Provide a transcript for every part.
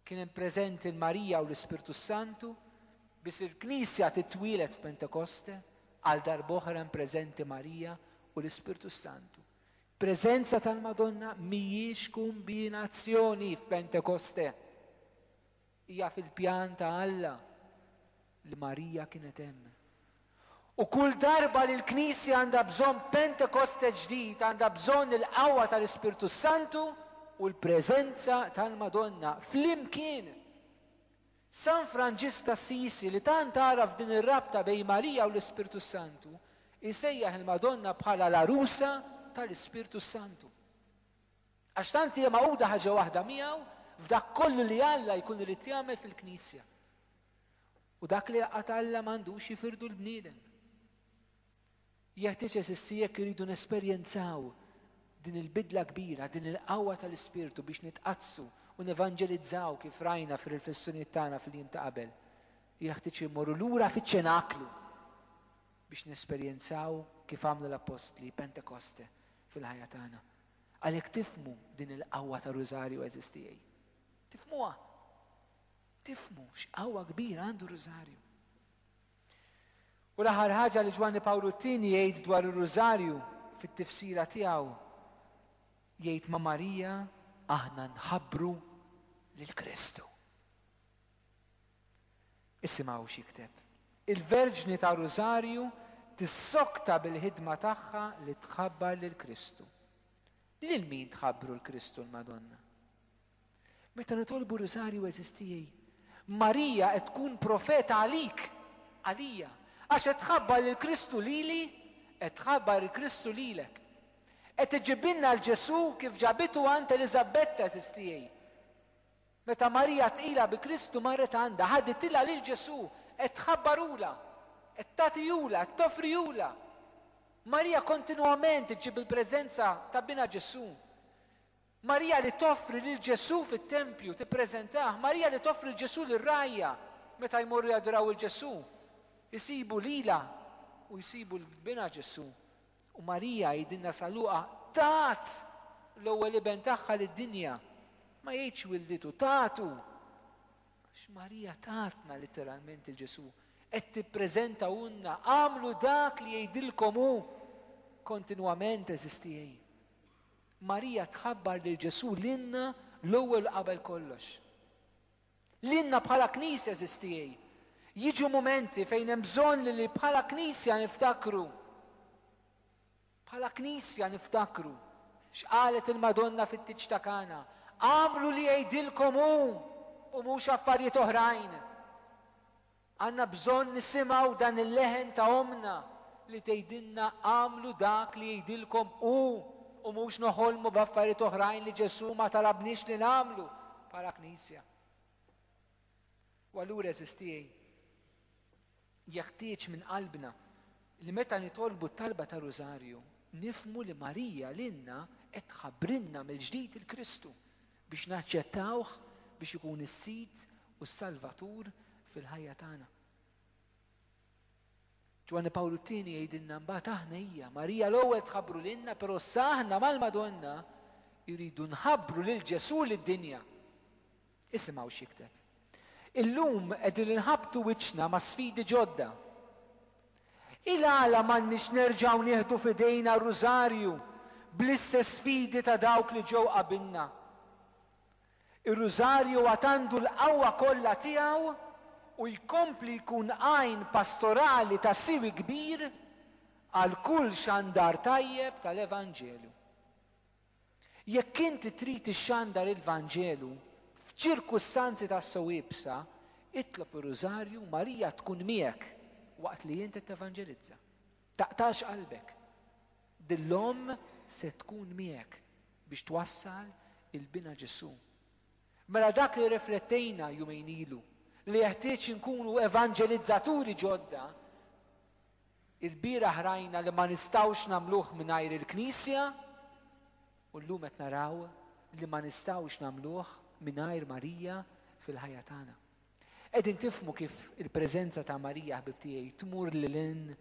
Kien hemm preżenti l-Marija u l-Ispirtu Santu biex il-Knisja titwielet f'Pentekoste għal darb'oħra hemm preżenti Marija u l-Ispirtu Santu. Preżenza tal-Madonna mhijiex kombinazzjoni f'Pentekoste. Hija fil-pjan ta' Alla. li Marija kienet hemm. U kull darba li l-Knisja għandha bżonn Pentekoste ġdid għandha bżonn il-qawwa tal-Ispirtu s-Santu u l-preżenza tal-Madonna flimkien. San Franġisk t'Assisi li tant għaraf din ir-rabta bejn Marija u l-Ispirtu s-Santu jsejjaħ il-Madonna bħala l-Għarusa tal-Ispirtu s-Santu. Għax tant hija magħquda ħaġa waħda miegħu f'dak kollu li Alla jkun irid jagħmel fil-Knisja. U dak li jaqgħad Alla m'għandux jifirdu l-bniedem. Jeħtieġ eżissi jekk iridu nesperjenzaw din il-bidla kbira, din il-qawwa tal-Ispirtu biex nitqadsu u nevanġelizzaw kif rajna fir-riflessjonijiet tagħna fil-jiem ta' qabel. Jeħtieġ li mmorru lura fiċ-ċenaklu biex nesperjenzaw kif għamlu l-appostli Pentekoste fil-ħajja tagħna. Għalhekk tifmu din il-qawwa ta' rużarju eżistijaj. Tifmuha. Tifhmu x'qawwa kbira għandu r-Rużarju. U l-aħħar ħaġa li Ġwanni Pawlu t-Tieni jgħid dwar ir-Rużarju fit-tifsira tiegħu jgħid ma' Marija aħna nħabbru lil Kristu. Isimgħu x'jikteb. Il-Verġni ta' Rużarju tissokta bil-ħidma tagħha li tħabbar lil Kristu. Lil min tħabbru l-Kristu l-Madonna? Meta nitolbu Rusarju għeżież tiegħi, Marija qed tkun profeta għalik, għalija, għax qed tħabbar lil Kristu lili, qed tħabbar il-Kristu lilek. Qed iġġibilna l-Ġesù kif ġabitu għand Eliżabetta għeżież tiegħi. Meta Marija tqila bi Kristu marret għandha, ħaditilha lil Ġesù, qed tħabbarula, qed tagħtihula, qed tofrihula. Marija kontinwament iġġib il-preżenza ta' binha Ġesù. Marija li toffri lil Ġesù fit-tempju, tippreżentah, Marija li toffri lil Ġesù lir-rgħajja meta jmorru jadoraw 'il Ġesù, isibu lilha u jsibu 'l binha Ġesù. U Marija, jgħidilna San Luqa, tat l-ewwel iben tagħha lid-dinja, ma jgħidx wilditu, tatu! Għax Marija tatna litteralment 'il Ġesù, qed tippreżentahulna, agħmlu dak li jgħidilkom hu, kontinwament eżistiej. Marija tħabbar lil Ġesù lilna l-ewwel u qabel kollox. Lilna bħala Knisja żistiej. Jiġu mumenti fejn hemm bżonn li li bħala Knisja niftakru. Bħala Knisja niftakru. X'qalet il-Madonna fit-tiġ ta' Kana? Għamlu li jgħidilkom hu u mhux affarijiet oħrajn. Għandna bżonn nisimgħu dan il-leħen ta' Ommna li tgħidilna agħmlu dak li jgħidilkom Hu u mhux noħolmu b'affarijiet oħrajn li Ġesù ma talabniex li nagħmlu bħala Knisja. U allura għeżież tiegħi, jeħtieġ minn qalbna li meta nitolbu t-talba tar-Rużarju nifhmu li Marija lilna qed tħabbrilna mill-ġdid il-Kristu. Biex naċċettawh biex ikun is-Sid u s-Salvatur fil-ħajja tagħna. Ġwanni Pawlu t-tieni jgħidilna mbagħad aħna hija Marija l-ewwel tħabbru lilna, però sa aħna mal-Madonna jridu nħabbru lil Ġesù lid-dinja. Isimgħu x'jikteb. Illum qegħdin inħabbtu wiċċna ma' sfidi ġodda. Hi l-għala m'għandniex nerġgħu nieħdu f'idejna r-Rużarju bl-istess fidi ta' dawk li ġew qabilna? Ir-Rużarju għad għandu l-qawwa kollha tiegħu u jkompli jkun għajn pastorali ta' siwi kbir għal kull xandar tajjeb tal-Evanġelju. Jekk inti trid ixxandar il-Vanġelu f'ċirkustanzi tassew iebsa, itlob ir-Rużarju u Marija tkun miegħek waqt li int qed tevanġelizza. Taqtax qalbek. Din l-omm se tkun miegħek biex twassal il-binha Ġesù. Mela dak li rriflettejna jumejn ilu, li jeħtieġ inkunu evanġelizzaturi ġodda, Ilbieraħ rajna li ma nistgħux nagħmluh mingħajr il-Knisja u llum qed naraw li ma nistgħux nagħmluh mingħajr Marija fil-ħajja tagħna. Qegħdin tifhmu kif il-preżenza ta' Marija ħbib tiegħi tmur lil hinn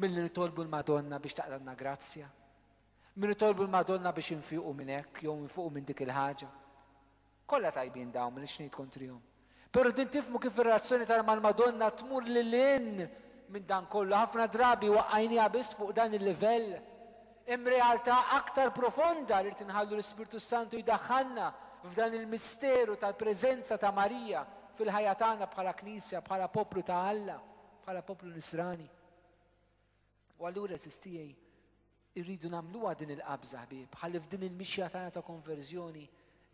milli nitolbu l-Madonna biex taqralna grazzja. Min nitolbu l-Madonna biex infiqu minn hekk jew infiqu minn dik il-ħaġa. Kollha tajbin dawn m'iniex ngħid kontrihom. Però din tifhmu kif ir-relazzjoni tagħna mal-Madonna tmur lil hinn minn dan kollu, ħafna drabi waqqajniha biss fuq dan il-livell. Hemm realtà aktar profonda li rrid inħallu l-Ispirtu s-Santu jdaħħalna f'dan il-misteru tal-preżenza ta' Marija fil-ħajja tagħna bħala Knisja, bħala poplu ta' Alla, bħala poplu Nisrani. U allura, eżistiegħi, Irridu nagħmluha din il-qabża, ħbieb, ħalli f'din il-mixja tagħna ta' konverżjoni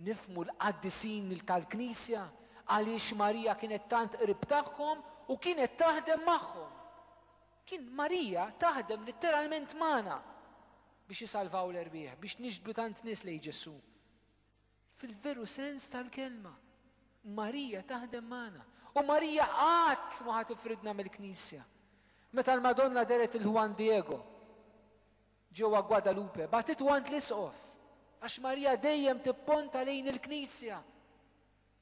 nifmu l-qaddisin tal-Knisja għaliex Marija kienet tant qrib tagħhom u kienet taħdem magħhom. Kien Marija taħdem litteralment magħna biex isalvaw l-erbieħ, biex nixbdu tant nies lejn Ġesù. Fil-veru sens tal-kelma, Marija taħdem magħna. U Marija qatt ma ħa tifridna mill-Knisja. Meta l-Madonna deret il Juan Diego ġewwa Guadalupe, batitu għand l-isqof għax Marija dejjem tipponta lejn il-Knisja.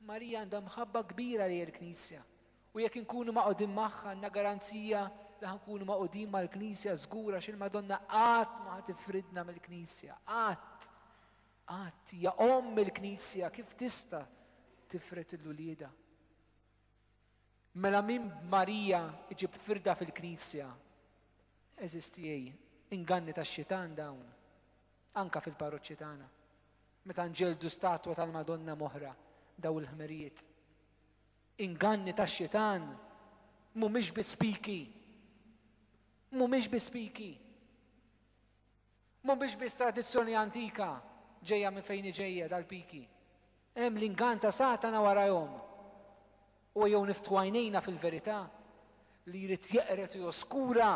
Marija għandha mħabba kbira lejn il-Knisja. U jekk inkunu maqodin magħha għandna garanzija li ħankunu maqodin mal-Knisja żgura x'il-Madonna qatt ma tifridna mill-Knisja, qatt. Qatt, hija Omm il-Knisja, kif tista' tifred lil uliedha? Mela min b'Marija jġib firda fil-Knisja? Għeżież tiegħi, inganni tax-xitan dawn, anke fil-parroċċi tagħna, meta nġelldu statwa tal-Madonna m'oħra, dawn il-ħmerijiet. Inganni tax-xitan mhumiex bi spiki. Mhumiex bi spiki. Mhumiex biss tradizzjoni antika ġejja minn fejn hi ġejja dal-piki. Hemm l-ingann ta' Satana warajhom. U ejjew niftħu għajnejna fil-verità li jrid jeqred u joskura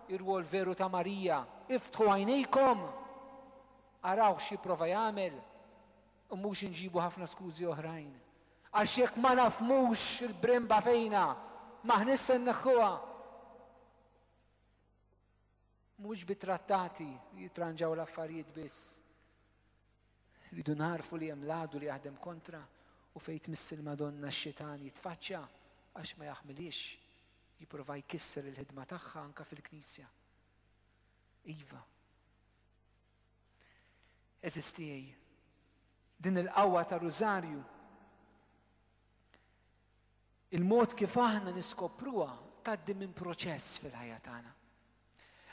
r-rwol veru ta' Marija. Iftħu għajnejkom! Araw x'jipprova jagħmel u mhux inġibu ħafna skużi oħrajn. Għax jekk ma nafhmux il-brimba fejnha, m'aħniex se nneħħuha. Mhux bit-trattati jitranġaw l-affarijiet biss. Rridu nagħrfu li hemm l-għadu li jaħdem kontra u fejn tmiss il-Madonna x-xitan jitfaċċja għax ma jaħmilhiex jipprova jkisser il-ħidma tagħha anke fil-Knisja. Iva. Eżistijej, din il-qawwa ta' rużarju Il-mod kif aħna niskopruha tgħaddi minn proċess fil-ħajja tagħna.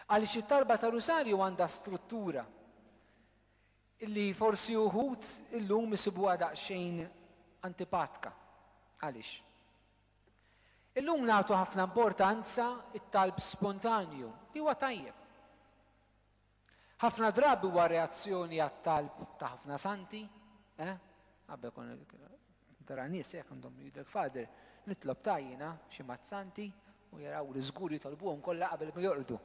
Għaliex it-talba ta' Rusarju għandha struttura illi forsi uħud illum isibuha daqsxejn antipatka. Għaliex? Illum nagħtu ħafna importanza it-talb spontanju li huwa tajjeb. Ħafna drabi huwa reazzjoni għat-talb ta' ħafna santi, eh? Għabba kon tara nies hekk għandhom jidlek fader, nitlob tajjina xi mat santi u jaraw li żgur jitolbuhom kollha qabel ma jorqdu.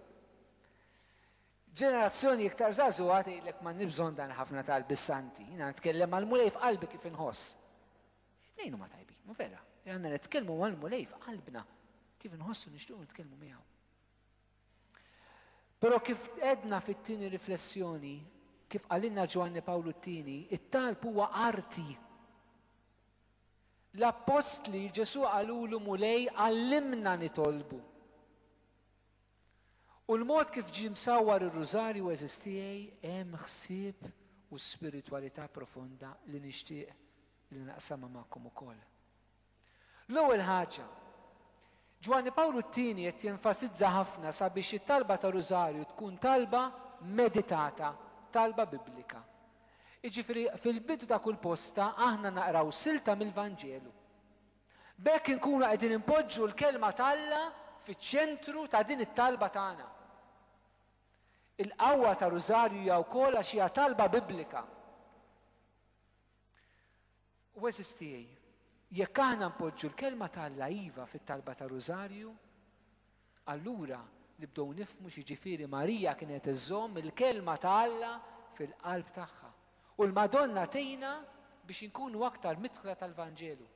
Ġenerazzjoni iktar żagħżugħa tgħidlek ma nibżon dan ħafna talbi santi, jiena nitkellem mal-Mulej f'qalbi kif inħoss. Nejnu ma tajbin, u vera, għandna nitkellmu mal-Mulej f'qalbna kif inħossu nixtiequ nitkellmu miegħu. Però kif għedna fit-tieni riflessjoni, kif qalilna Ġwanni Pawlu t-Tieni, it-talb huwa arti. L-appostli Ġesù qalulu Mulej għallimna nitolbu. U l-mod kif ġie msawwar ir-Rużarju għeżiż tiegħi hemm ħsieb u spiritwalità profonda li nixtieq li naqsamha magħkom ukoll. L-ewwel ħaġa, Ġwanni Pawlu t-Tieni qed jenfasizza ħafna sabiex it-talba tar-Rużarju tkun talba meditata, talba Biblika. Jiġifieri fil-bidu ta' kull posta aħna naqraw silta mill-Vanġelu. B'hekk inkunu qegħdin inpoġġu l-Kelma t'Alla fiċ-ċentru ta' din it-talba tagħna. Il-qawwa tar-Rużarju hija wkoll għax hija talba Biblika. Għeżież tiegħi, jekk aħna npoġġu l-Kelma ta' Alla iva fit-talba tar-Rużarju, allura nibdew nifhmu x'jiġifieri Marija kienet iżżomm il-Kelma ta' Alla fil-qalb tagħha. U l-Madonna tgħinna biex inkunu aktar midħla tal-Vanġelu.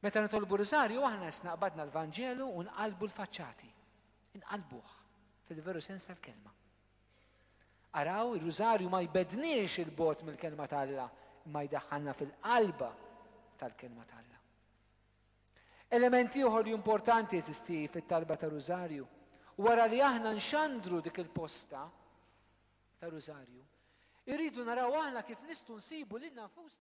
Meta nitolbu r-Rużarju aħna isna qbadna l-Vanġelu u nqallbu l-faċċati. Inqallbuh, fil-veru sens tal-kelma. Araw, ir-Rużarju ma jbegħdniex 'il bogħod mill-Kelma t'Alla, imma jdaħħalna fil-qalba tal-Kelma t'Alla. Element ieħor li importanti jeżisti fit-talba ta' Rużarju, wara li aħna nxandru dik il-posta ta' Rużarju, irridu naraw aħna kif nistgħu nsibu lil nfusna